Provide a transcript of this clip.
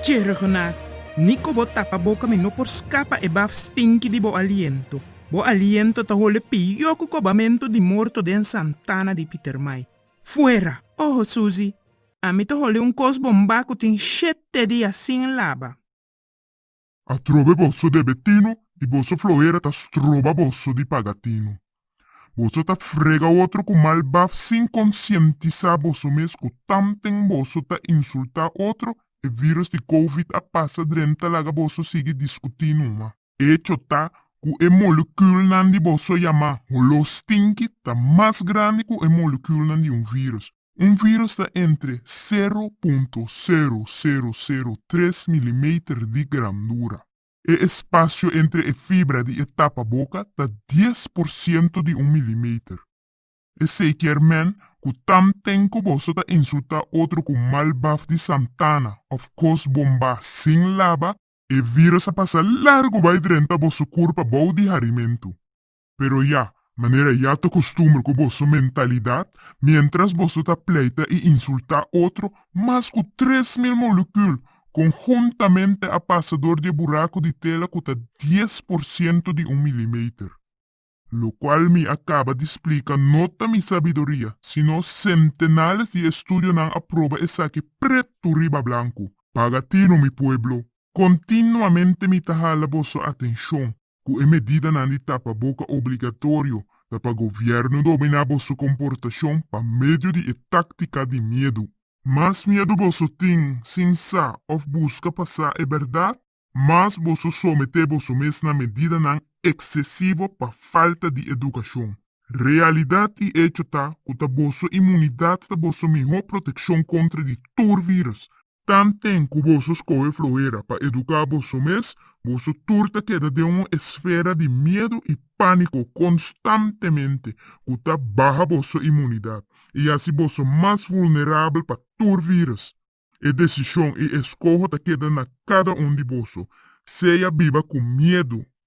Tjergenat, Nico bo tapa boca mi no por scapa e baf stinky di bo aliento. Bo aliento ta hole pio cu cobamento di morto den santana di Pietermaai. Fuera! Oho Susie, ami ta hole un cos bomba cu tin shit tedi asin laba. Atrobe boso debe tinu i boso floera ta stroba boso di paga tinu. Boso ta frega otro ku mal baf sin konsientisá boso mes ku tamten boso ta insultá otro, e vírùs di covid a pasa drenta laga boso sigui diskutí numa. Echo ta ku e molukùlnan di boso yamá holó stinki ta mas grandi ku e molukùlnan di un vírùs. Un virus ta entre sero punto sero sero sero tres milimeter di grandura. E espasio entre e fibra di e tapaboka ta dies por siento di un milimeter. Esei kier men ku tam ten ku boso ta insultá otro ku mal baf di santana òf kos bombá sin laba, e virus a pasa largu bai drenta boso kurpa bou di harimentu. Pero ya, manera ya ta kostumbr ku boso mentalidat, miéntras boso ta pleita i insultá otro, mas ku tres mil molukul konhuntamente a pasa dor di e buraku di tela ku ta dies por siento di un milimeter. Lokual mi a kaba di splika no ta mi sabiduria, sino sentenales di estudionan a proba esaki pretu riba blanku. Pagatino mi pueblo, kontinuamente mi ta hala boso atenshon, Ku e medidanan di tapa boka obligatorio ta pa gobièrnu dominá boso komportashon pa medio di e táktika di miedu. Mas miedu boso tin sin sa òf buska pa sa e bèrdat, mas boso someté boso mes na medidanan eksesivo pa falta di edukashon. Realidat i echo ta ku ta boso imunidat ta boso mihó protekshon kontra di tur vírùs, Tanten ku boso skohe floera pa eduká boso mes, boso tur ta keda den un esfera di miedu i pániko konstantemente ku ta baha boso imunidat i hasi boso mas vulnerabel pa tur vírus. E desishon i e skoho ta keda na kada un di boso, sea biba ku miedu